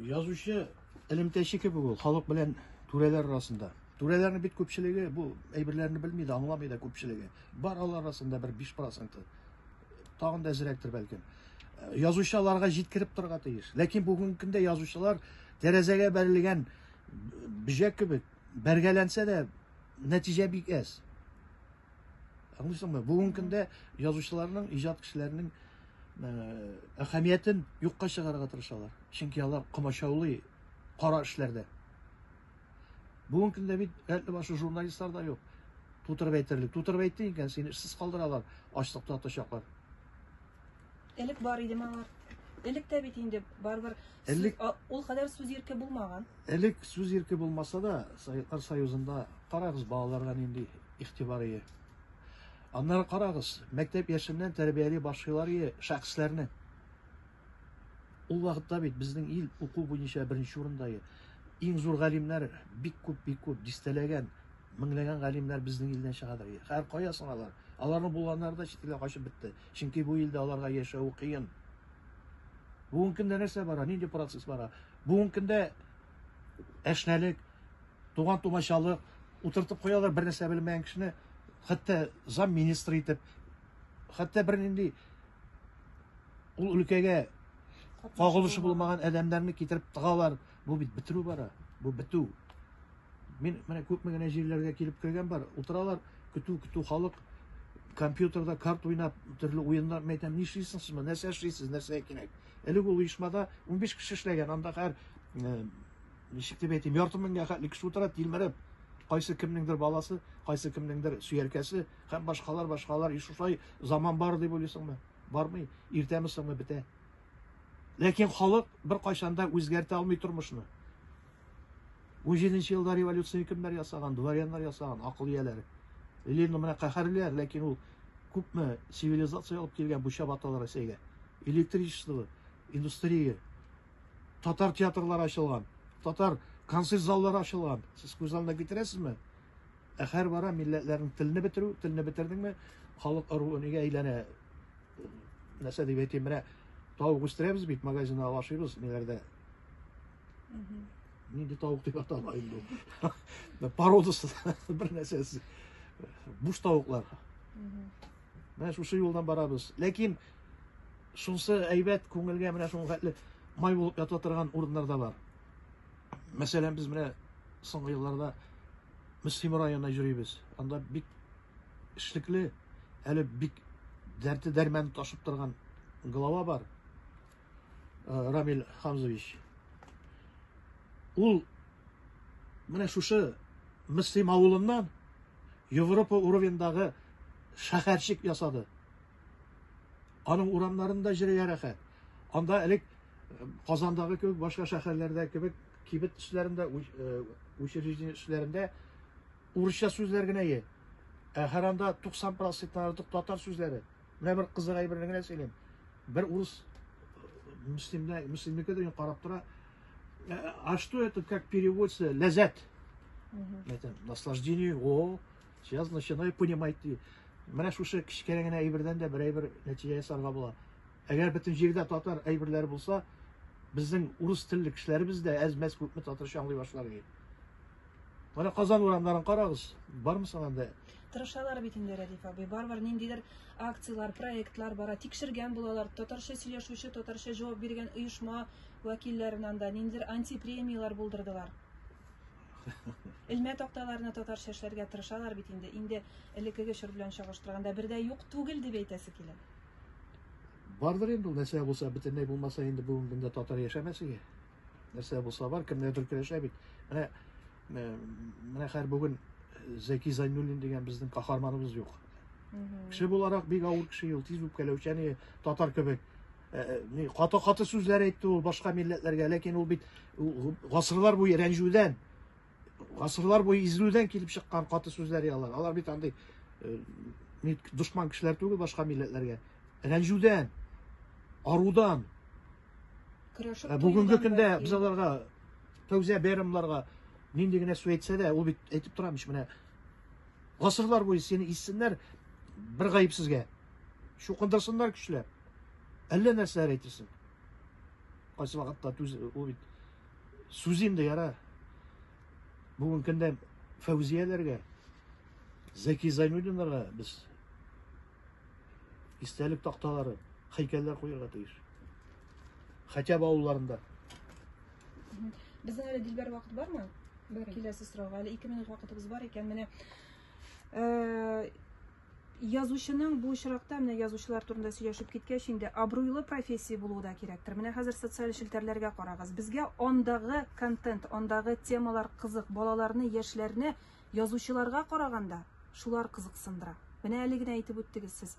Язучы элемтәче кебек ул, халык белән түрәләр арасында. Түрәләрнең бит күпчелеге бу әйберләрне белми дә, аңламый да күпчелеге. Бар алар арасында бер 5%. Тагын да әзрәктер бәлкем. Э, язучы аларга җиткереп торырга тиеш. Ләкин бүгенге көндә язучылар тәрәзәгә бәрелгән бөҗәк кебек бәргәләнсә дә нәтиҗә бик әз. Аңлыйсыңмы? Бүгенге көндә язучыларның, иҗат кешеләренең әһәмиятен юкка чыгарырга тырышалар. Чөнки алар комачаулый кара эшләрдә. Бүгенге көндә бит әле башы журналистлар да юк. Тутырып әйтерлек. Тутырып әйтте икән, сине эшсез калдыралар, ачлыкта тотачаклар. Элек бар иде малар. Элек тә бит инде барбар. Элек ул кадәр сүз ирке булмаган. Элек сүз ирке булмаса да, Советлар Союзында карагыз балаларга нинди игътибар ие. Аннары карагыз, мәктәп яшеннән тәрбияли башлыйлар ие шәхесләрне. Ул вакытта бит безнең ил уку буенча беренче урында ие. Иң зур галимнәр бик күп, бик күп дистәләгән, меңләгән галимнәр безнең илдән чыгадыр. Хәр кая сыналар. Аларны булганнары да чит илгә качып бетте. Чөнки бу илдә аларга яшәү кыен. Бүгенге көндә нәрсә бара, нинди процесс бара? Бүгенге көндә әшнәлек, туган тумачалык, утыртып куялар бер нәрсә белмәгән кешене, хәтта зам министр итеп, хәтта бер нинди ул өлкәгә кагылышы булмаган адәмнәрне китереп тыгалар. Бу бит бетерү бара, бу бетү. Мин менә күпме генә җирләргә килеп кергән бар, утыралар, көтү, көтү халык, компьютерда карт уйнап, төрле уеннар мәйтәм, ни эшлисең сез, нәрсә эшлисез, нәрсә кирәк. Элек ул оешмада 15 кеше эшләгән, анда хәр, э, ничек дип әйтим, ярты меңгә хәтле кеше утыра, тилмереп, кайсы кемнеңдер баласы, кайсы кемнеңдер сөяркәсе, һәм башкалар, башкалар, и шушай заман бар дип уйлыйсыңмы? Бармый, иртәме соңмы бетә. Ләкин халык беркайчан да үзгәртә алмый тормышны. 17 нче елда революцияне кемнәр ясаган? Дворяннар ясаган, акыл ияләре. Ленин менә каһәрлиләр, ләкин ул күпме цивилизация алып килгән бу чабаталы Рәсәйгә. Электричество, индустрия, татар театрлары ачылган, татар концерт заллары ачылган. Сез күз алдына китерәсезме? Ә һәр бара милләтләрнең телне бетерү, телне бетердеңме, халык ыруы нигә әйләнә? нәрсә дип әйтим, менә тавык үстерәбез бит, магазиннан ала ашыйбыз, ниләрдә. Нинди тавык дип атала инде ул. Породасы бер нәрсәсе. Буш тавыклар. Менә шушы юлдан барабыз. Ләкин шунсы әйбәт күңелгә менә шуның хәтле май булып ята торган урыннар да бар. Мәсәлән, без менә соңгы елларда Мөслим районына йөрибез. Анда бик эшлекле, әле бик дәрте дәрмәне ташып торган глава бар, э, Рамиль Хамзович. Ул менә шушы Мөслим авылыннан Европа уровеньдагы шәһәрчек ясады. Аның урамнарында җиргә рәхәт. Анда элек э, Казандагы кебек башка шәһәрләрдә кебек кибет эшләрендә, э, учреждение эшләрендә Урысча сүзләр генә е. Ә һәр анда 90 проценттан артык татар сүзләре. Менә бер кызык әйберне генә сөйлим. Бер урыс мөслимдә, мөслимнеке дигән карап тора. А что это как переводится? Ләззәт. Это наслаждение. О, сейчас начинаю понимать. Менә шушы кечкенә генә әйбердән дә бер әйбер нәтиҗә ясарга була. Әгәр бөтен җирдә татар әйберләре булса, безнең урыс телле кешеләребез дә әз-мәз күпме татарча аңлый башлар иде. Менә Казан урамнарын карагыз, бармы соң анда? Тырышалар бит инде Рәдиф абый. Барбар ниндидер акцияләр, проектлар бара. Тикшергән булалар. Татарча сөйләшүче, татарча җавап биргән оешма вәкилләрен анда ниндидер антипремияләр булдырдылар. Элмә такталарны татарча эшләргә тырышалар бит инде. Инде элеккеге чор белән чагыштырганда бердә юк түгел дип әйтәсе килә. Бардыр инде ул, нәрсә булса, бөтенләй булмаса инде бүгенге көндә татар яшәмәс иде. Нәрсә булса бар, кемнәрдер көрәшә бит. Менә э, менә хәр бүген Зәки Зайнуллин дигән безнең каһарманыбыз юк. Кеше буларак бик авыр кеше ул, тиз үпкәләүчән иде, татар кебек. Э, э, ни каты-каты сүзләр әйтте ул башка милләтләргә, ләкин ул бит гасырлар буе рәнҗүдән Гасырлар буе изелүдән килеп чыккан каты сүзләр яллар. Алар бит андый э, дошман кешеләр түгел башка милләтләргә. Рәнҗүдән, арудан. Э, бүгенге көндә без аларга фәүзия бәйрәмнәргә нинди генә сүз әйтсә дә, ул бит әйтеп тора мич менә. Гасырлар буе сине иссеннәр бер гаепсезгә. Шукындырсыннар көчләп. Әллә нәрсәләр әйтерсең. Кайсы вакытта түз ул бит Сүз инде яра. Бүгін көндә Фәүзияләргә, Зәки Зәйнуллинларга без истәлек такталары, хәйкәлләр куярга тиеш. Хәтәб авылларында. Безнең әле дилбәр вакыт бармы? Бар. Киләсе сорауга әле 2 минут вакытыбыз бар икән. Менә э, Язучының бу очракта, менә язучылар турында сөйләшеп киткәч инде, абруйлы профессия булуы да кирәктер. Менә хәзер социаль челтәрләргә карагыз. Безгә андагы контент, андагы темалар кызык, балаларны, яшьләрне язучыларга караганда шулар кызыксындыра. Менә әле генә әйтеп үттегез сез,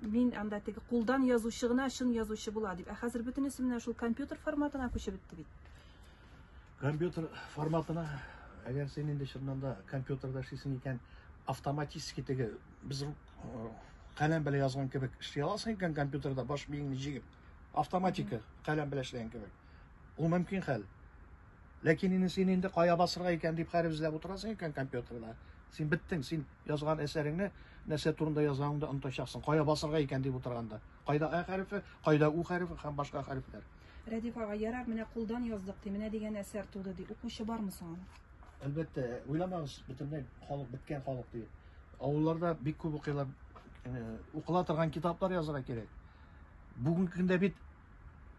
мин анда теге кулдан язучы гына чын язучы була дип. Ә хәзер бөтенесе менә шул компьютер форматына күчеп бетте бит. Компьютер форматына, әгәр син инде чыннан да компьютерда эшлисең икән, автоматически теге без каләм белән язган кебек эшли аласың икән компьютерда баш миеңне җигеп, автоматика каләм белән эшләгән кебек. Ул мөмкин хәл. Ләкин инде син инде кая басырга икән дип хәреф эзләп утырасың икән компьютерда. Син беттең, син язган әсәреңне нәрсә турында язганыңды онытачаксың. Кая басырга икән дип утырганда. Кайда а хәрефе, кайда у хәрефе һәм башка хәрефләр. Рәдиф ага, ярар, менә кулдан яздык, ди, менә дигән әсәр туды, ди. Укучы бармы соң аны? Әлбәттә, уйламагыз, бөтенләй халык, беткән халык ди. Авылларда бик күп укыйлар, укыла торган китаплар язырга кирәк. Бүгенге көндә бит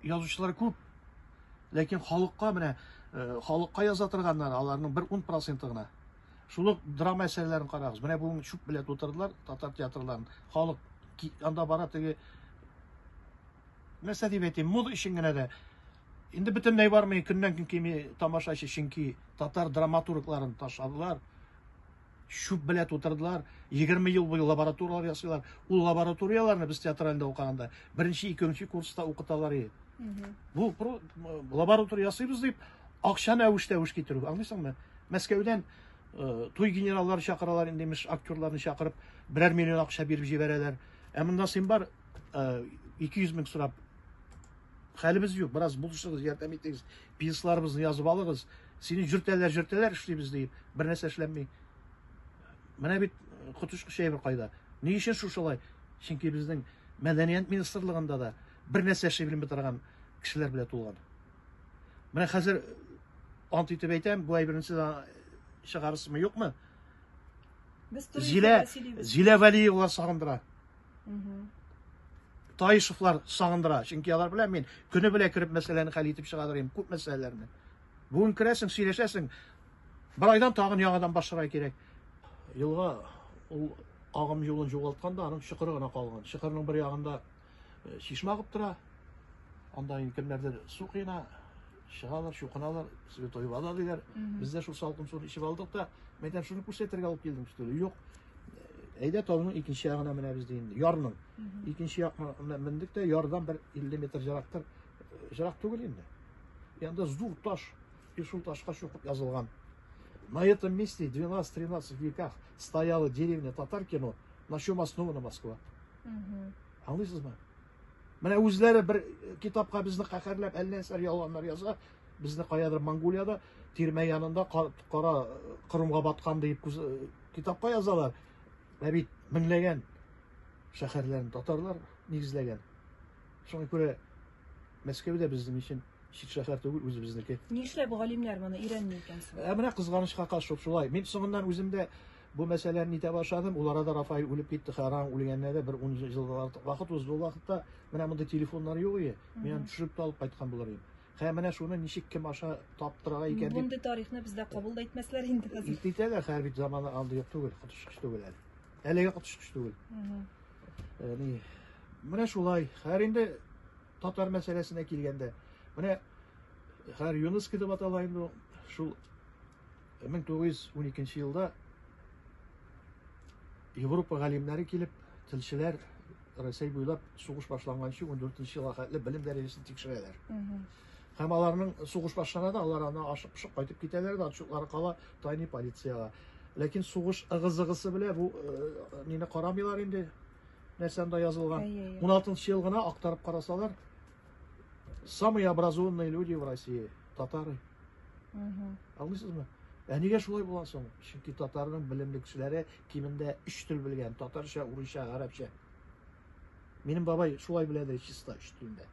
язучылар күп, ләкин халыкка менә халыкка яза торганнар, аларның бер ун проценты гына. Шул ук драма әсәрләрен карагыз. Менә бүген чүп белән тутырдылар татар театрларын. Халык анда бара теге Нәрсә дип әйтим, мода өчен генә дә инде бөтенләй бармый, көннән-көн кими тамашачы, чөнки татар драматургларын ташладылар. Шуп белә тутырдылар. 20 ел буе лабораторияләр ясыйлар. Ул лабораторияләрне без театральдә укыганда беренче, икенче курста укыталар иде. Бу лаборатория ясыйбыз дип, акчаны әвеш-тәвеш китерү. Аңлыйсыңмы? Мәскәүдән э, туй генераллары чакыралар, инде имеш актерларны чакырып, берәр миллион акча биреп җибәрәләр. Ә монда син бар, эки йөз мең сорап хәлебез юк бераз булышыгыз ярдәм итегез пенсларыбызны язып алыгыз сине жөртәләр жөртәләр эшлибез диеп бер нәрсә эшләнми менә бит коточкыч әйбер кайда ни өчен шушылай чөнки безнең мәдәният министрлыгында да бер нәрсә эшли белми торган кешеләр белән тулган менә хәзер ант итеп әйтәм бу әйберне сез чыгарырсызмы юкмы Зилә, Зилә Вәлиевалар сагындыра. Таишевлар сагындыра, чөнки алар белән мин көне белән кереп мәсьәләне хәл итеп чыга торыйм, күп мәсьәләләрне. Бүген керәсең, сөйләшәсең. Бер айдан тагын яңадан башларга кирәк. Елга ул агым юлын югалтканда, аның чокыры гына калган. Чокырның бер ягында э, чишмә агып тора. Анда инде кемнәрдер су кыена, чыгалар, чукыналар, святой вода диләр. Без дә шул салкын суны эчеп алдык та, мин әйтәм, шуны күрсәтергә алып килдем өстәле. Юк. Әйдә тауның икенче ягына менәбез ди инде. Ярның. Икенче якка мендек тә ярдан бер 50 метр җырактыр. Җырак түгел инде. Янда зур таш. И шул ташка чукып язылган. На этом месте 12-13 веках стояла деревня Татаркино, на чем основана Москва. Аңлыйсызмы? Менә үзләре бер китапка безне каһәрләп әллә нәрсә ялганнар яза. Безне каядыр Монголиядә тирмә янында кара Кырымга баткан дип китапка язалар. Ә бит меңләгән шәһәрләрен татарлар нигезләгән. Шуңа күрә Мәскәү дә безнең өчен чит шәһәр түгел, үзебезнеке. Нишләп галимнәр моны өйрәнми икән соң? Ә менә кызганычка каршы шулай. Мин соңыннан үзем дә Бу мәсьәләне нитә башладым, ул арада Рафаэль үлеп китте, Хәраң үлгәненә дә бер ун ел артык вакыт узды. Ул вакытта менә мондый телефоннар юк иде, мин аны төшереп тә алып кайткан булыр идем. Хә, менә шуны ничек, кем аша таптырырга икән дип. Мондый тарихны бездә кабул да итмәсләр инде хәзер. Ит итәләр, хәзер бит заманы андый түгел, коточкыч түгел әле. Әлегә коточкыч түгел. Э, ни, менә шулай. Хәзер инде татар мәсьәләсенә килгәндә, менә хәзер ЮНЕСКО дип атала инде шул 1912 елда Европа галимнәре килеп, телчеләр Рәсәй буйлап сугыш башланганчы 14 елга хәтле белем дәрәҗәсен тикшерәләр. Һәм аларның сугыш башлана да, алар аны ашып пышып кайтып китәләр дә, отчетлары кала тайны полициягә. Ләкин сугыш ыгы-зыгысы белән бу э, мине карамыйлар инде нәрсәндә язылган. 16 елгына актарып карасалар, Самые образованные люди в России – татары. Аңлыйсыз мы? Ә нигә шулай була соң? Чөнки татарның белемле кешеләре кимендә өч тел белгән, татарча, урысча, гарәпчә. Минем бабай шулай беләде чиста өч телдә.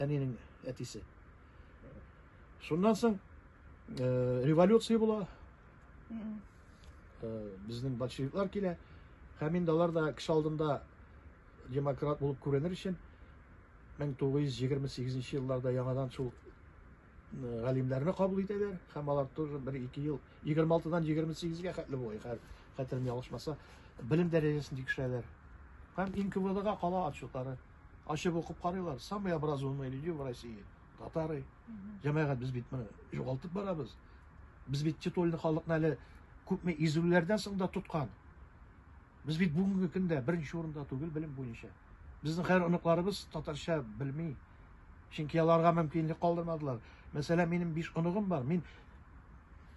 Әнинең әтисе. Шуннан соң э, революция була. Э, безнең большевиклар килә. Һәм инде алар да кеше алдында Демократ булып күренер өчен 1928 нче елларда яңадан шул галимнәрне кабул итәләр һәм алар тоже бер ике ел 26 дан 28 га хәтле була хәзер хәтерем ялгышмаса белем дәрәҗәсен тикшерәләр һәм иң КВДга кала отчетлары ачып укып карыйлар самые образованные люди в России татары җәмәгать без бит моны югалтып барабыз без бит титульный халыкны әле күпме изүләрдән соң да тоткан Без бит бүгенге көндә беренче урында түгел белем буенча. Безнең хәер оныкларыбыз татарча белми. Чөнки аларга мөмкинлек калдырмадылар. Мәсәлән, минем биш оныгым бар. Мин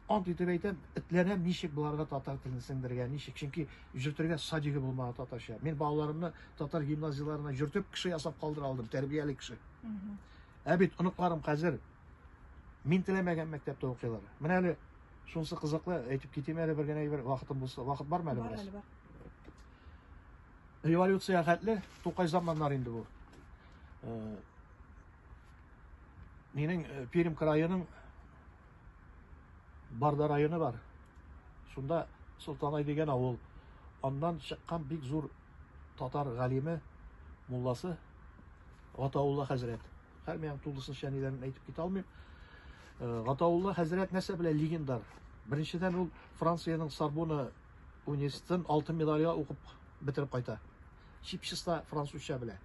ант итеп әйтәм, этләнәм ничек боларга татар телен сеңдергә, ничек? Чөнки җөртергә садиге булмаган татарча. Мин балаларымны татар гимназияләренә җөртеп, кеше ясап калдыра алдым, тәрбияле кеше. Ә бит оныкларым хәзер Мин теләмәгән мәктәптә укыйлар. Менә әле шунысы кызыклы, әйтеп китим әле бер генә әйбер, вакытым булса, вакыт бармы әле бераз? Бар, Революция хәтле Тукай заманнар инде бу. Э, Минең э, Пермь краеның Барда районы бар. Шунда Солтанай дигән авыл. Аннан чыккан бик зур татар галиме, мулласы Гатаулла хәзрәт. Хәрмиян тулысынча ниләрен әйтеп китә алмыйм. Э, Гатаулла хәзрәт нәрсә белән легендар? Беренчедән ул Франциянең Сорбона университетын алтын медальгә укып бетереп кайта. Чипчыста французча белә.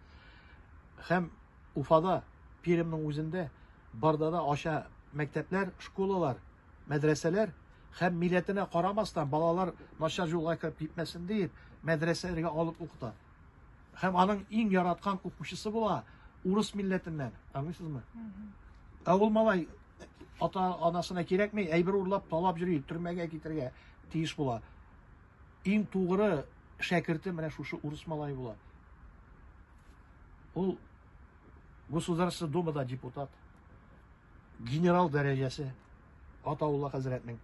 Һәм Уфада, Пермьнең үзендә барда да аша мәктәпләр, школалар, мәдрәсәләр һәм милләтенә карамастан балалар начар юлга кереп китмәсен диеп мәдрәсәләргә алып укыта. Һәм аның иң яраткан укучысы була урыс милләтеннән. Аңлыйсызмы? Ә ул малай ата анасына кирәкми, әйбер урлап, талап йөри, төрмәгә китергә тиеш була. Иң тугры шәкерте менә шушы урыс малай була. Ул Государство Думада депутат. Генерал дәрәҗәсе. Атаулла хәзрәтнең.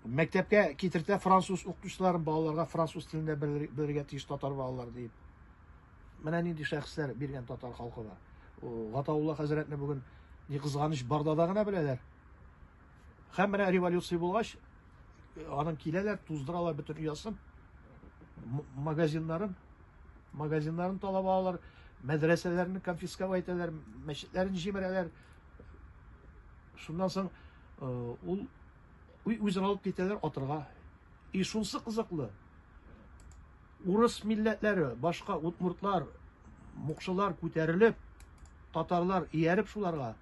Мәктәпкә китертә француз укытучыларын балаларга француз телендә белергә тиеш татар балалар диеп. Менә нинди шәхесләр биргән татар халкы бар. Гатаулла хәзрәтне бүген ни кызганыч бардада гына беләләр. Һәм менә революция булгач, аның киләләр, туздыралар бөтен оясын, магазиннарын, магазиннарын талап алалар, мәдрәсәләрне конфисковать итәләр, мәчетләрен җимерәләр. Шуннан соң э, ул үзен алып китәләр атырга. И шунсы кызыклы. Урыс милләтләре, башка удмуртлар, мукшылар күтәрелеп, татарлар ияреп шуларга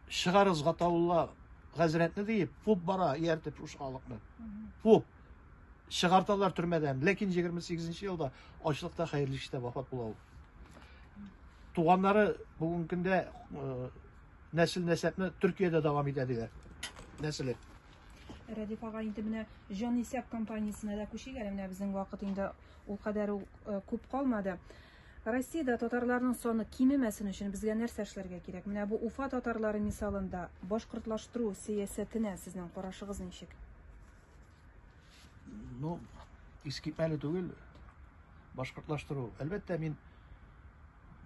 чыгарыз гатаулла хәзрәтне диеп, фуп бара ияртеп шушы халыкны. Фуп чыгарталар төрмәдән. Ләкин 28 елда ачлыкта хәерле эштә вафат була ул. Туганнары бүгенге көндә нәсел-нәсәпне Төркиядә дәвам итә диләр. Нәселе. Рәдиф ага инде менә җан исәп компаниясенә дә күчик әле менә безнең вакыт инде ул кадәр э, күп калмады. Россиядә татарларның саны кимемәсен өчен безгә нәрсә эшләргә кирәк? Менә бу Уфа татарлары мисалында башкортлаштыру сәясәтенә сезнең карашыгыз ничек? Ну, искитмәле түгел башкортлаштыру. Әлбәттә, мин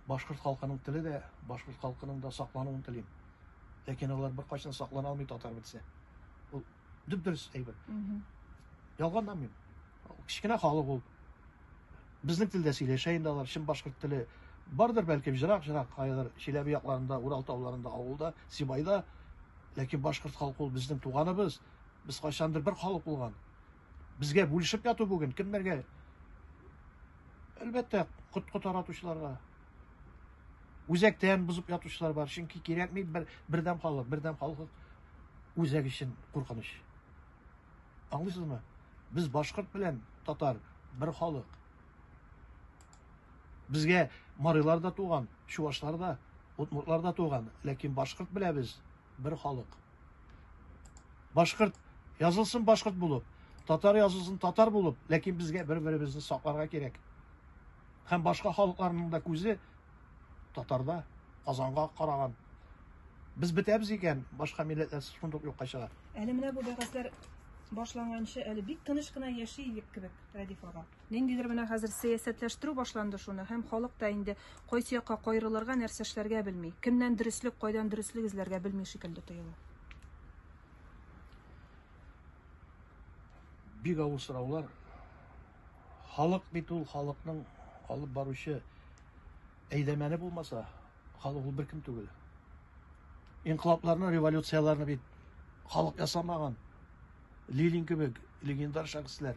башкорт халкының теле дә, башкорт халкының да саклануын телим. Ләкин алар бер кайчан саклана алмый татар бетсә. Ул дүп дөрес әйбер. Ялганнан мин. Кечкенә халык ул. Безнең телдә сөйләшә инде алар, чын башкорт теле бардыр бәлкем жырак-жырак кайдыр Чиләбе якларында, Урал тауларында, авылда, Сибайда. Ләкин башкорт халкы ул безнең туганыбыз. Без кайчандыр бер халык булган. Безгә бүлешеп яту бүген кемнәргә? Әлбәттә, коткы таратучыларга. Үзәктән бозып ятучылар бар, чөнки кирәкми бер бердәм халык, бердәм халык үзәк өчен куркыныч. Аңлыйсызмы? Без башкорт белән татар бер халык. Безгә марилар да туган, чувашлар да, удмуртлар да туган, ләкин башкорт беләбез, бер халык. Башкорт язылсын башкорт булып, татар язылсын татар булып, ләкин безгә бер-беребезне сакларга кирәк. Һәм башка халыкларның да күзе татарда, Казанга караган. Без бетәбез икән, башка милләтләр шундук юкка чыга. Әле менә бу бәхәсләр башланганчы әле бик тыныч кына яши идек кебек, Радиф ага. Ниндидер менә хәзер сәясәтләштерү башланды шуны, һәм халык та инде кайсы якка каерылырга, нәрсә эшләргә белми. Кемнән дөреслек, кайдан дөреслек эзләргә белми шикелле тоела. Бик авыр сораулар. Халык бит ул халыкның алып баручы әйләмәне булмаса, халык ул беркем түгел. Инкылапларны, революцияләрне бит халык ясамаган. Лилин кебек легендар шәхесләр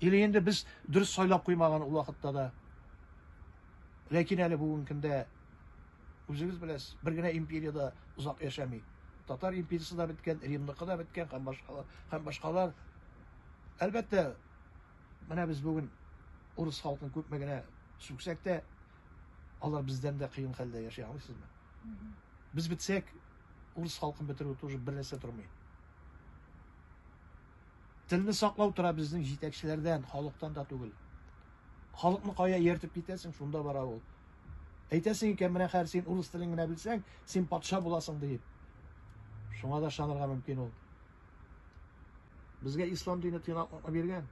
Или инде без дөрес сайлап куймаган ул вакытта да. Ләкин әле бүгенге көндә үзегез беләсез, бер генә империя да озак яшәми. Татар империясы да беткән, Римныкы да беткән һәм башкалар, һәм башкалар. Әлбәттә, менә без бүген урыс халкын күпме генә сүксәк тә, алар бездән дә кыен хәлдә яши, аңлыйсызмы? Без бетсәк, урыс халкын бетерү тоже бер нәрсә тормый. Телне саклау тора безнең җитәкчеләрдән, халыктан да түгел. Халыкны кая ияртеп китәсең, шунда бара ул. Әйтәсең икән, менә хәзер син урыс телен генә белсәң, син патша буласың диеп. Шуңа да ышанырга мөмкин ул. Безгә ислам дине тыйнаклыкны биргән.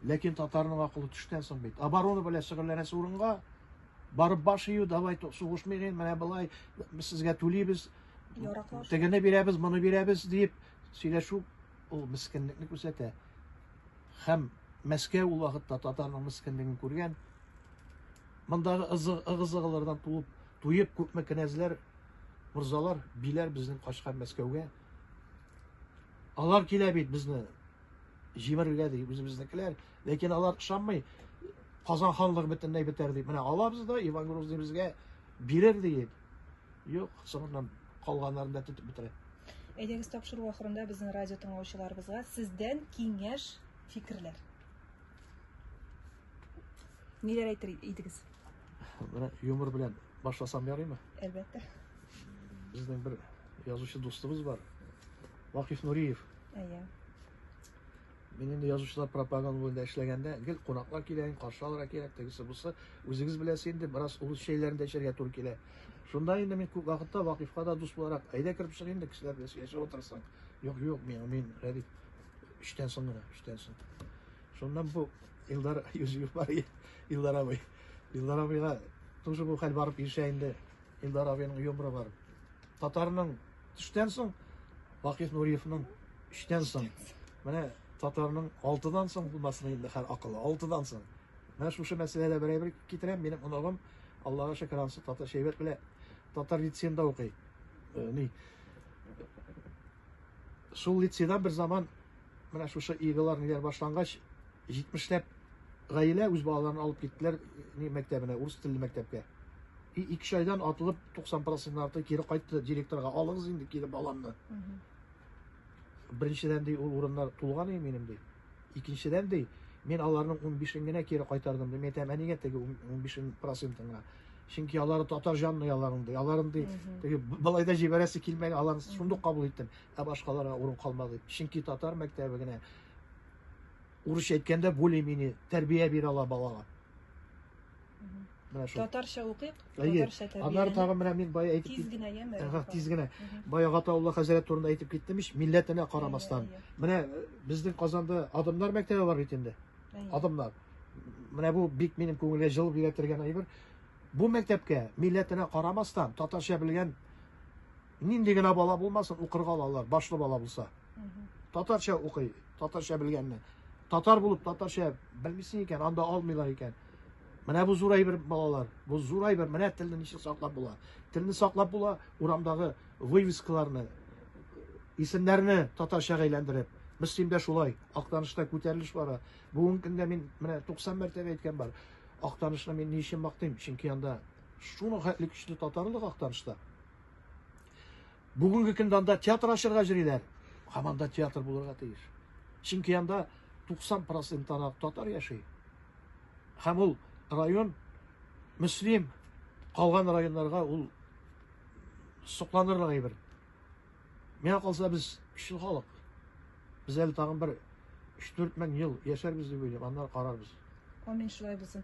Ләкин татарның акылы төштән соң бит. Оборона белән шөгыльләнәсе урынга барып баш ию, давай сугышмыйк, менә былай, без сезгә түлибез, тегене бирәбез, моны бирәбез дип, Сөйләшү ул мескенлекне күрсәтә. Хәм Мәскәү ул вакытта татарның мескенлеген күргән. Мондагы ыгы-зыгылардан тулып, туеп күпме кенәзләр, морзалар, биләр безнең качкан Мәскәүгә. Алар килә бит безне җимерергә ди, үзебезнекеләр. Ләкин алар ышанмый. Казан ханлыгы бөтенләй бетәр дип. Менә алабыз да Иван Грозный безгә бирер диеп. Юк, соңыннан калганнарын да тотып бетерә. Әйдәгез тапшыру ахырында безнең радио тыңлаучыларыбызга сездән киңәш, фикерләр. Ниләр әйтер идегез? Менә юмор белән башласам ярыймы? Әлбәттә. Безнең бер язучы дустыбыз бар. Вакиф Нуриев. Әйе. Мин инде язучылар пропаганда буенда эшләгәндә, гел кунаклар килә, каршы алырга кирәк, тегесе бусы. Үзегез беләсез инде, бераз урыс чәйләрен дә эчәргә туры килә. Шунда инде мин күп вакытта Вакыйфка да дус буларак, әйдә кереп чык инде, кешеләр белән сөйләшеп утырсаң. Юк, юк, мин, мин, Рәдиф, эштән соң гына, эштән соң. Шуннан бу Илдар Юзеф бар, Илдар абый. Илдар абыйга тоже бу хәл барып ирешә инде. Илдар абыйның юморы бар. Татарның төштән соң Вакиф Нуриевның өчтән соң, менә татарның алтыдан соң булмасын инде хәл акылы, алтыдан соң. Менә шушы мәсьәләдә бер әйбер китерәм, минем оныгым Аллага шөкер ансы татар шәйбәт белә. Татар лицеенда укый. Э, ни? Шул лицейда бер заман Менә шушы игылар ниләр башлангач, 70 ләп гаилә үз балаларын алып киттеләр ни мәктәбенә, урыс телле мәктәпкә. И ике айдан атылып 90% арты кире кайтты директорга, алыгыз инде кире баламны. Беренчедән ди ул урыннар тулган ди минем ди. Икенчедән ди, мин аларның 15-ен генә кире кайтардым ди. Мин әйтәм, ә нигә теге 15% гына? Чөнки алары татар җанлы аларның ди. Аларын ди, теге былай да җибәрәсе килмәгән, аларны шундук кабул иттем. Ә башкаларга урын калмады, чөнки татар мәктәбе генә, урысча әйткәндә, более-менее тәрбия бирә ала балага. Татарча укыйк, татарча тәрбия. Аннары тагын менә мин бая әйтеп тиз генә яме. Ага, тиз генә. Бая Гатаулла хәзрәт турында әйтеп киттем ич, милләтенә карамастан. Менә э, безнең Казанда Адамнар мәктәбе бар бит инде. Адамнар. Менә бу бик минем күңелгә җылы бирә торган әйбер. Бу мәктәпкә милләтенә карамастан татарча белгән Нинди генә бала булмасын, укырга алалар, башлы бала булса. Татарча укый, татарча белгәнне. Татар булып татарча белмисең икән, анда алмыйлар икән. Менә бу зур әйбер балалар, бу зур әйбер, менә телне ничек саклап була. Телне саклап була, урамдагы вывескаларны, исемнәрне татарчага әйләндереп. Мөслимдә шулай, Актанышта күтәрелеш бара. Бүгенге көндә мин менә 90 мәртәбә әйткән бар. Актанышны мин ни өчен мактыйм? Чөнки анда шуның хәтле көчле татарлык Актанышта. Бүгенге көндә анда театр ачырга йөриләр. Һәм анда театр булырга тиеш. Чөнки анда 90% ана татар яши. Һәм ул район мөслим калган районнарга ул сокланырлык әйбер. Миңа калса без көчле халык. Без әле тагын бер 3-4 мең ел яшәрбез дип уйлыйм, аннары карарбыз. Амин шулай булсын.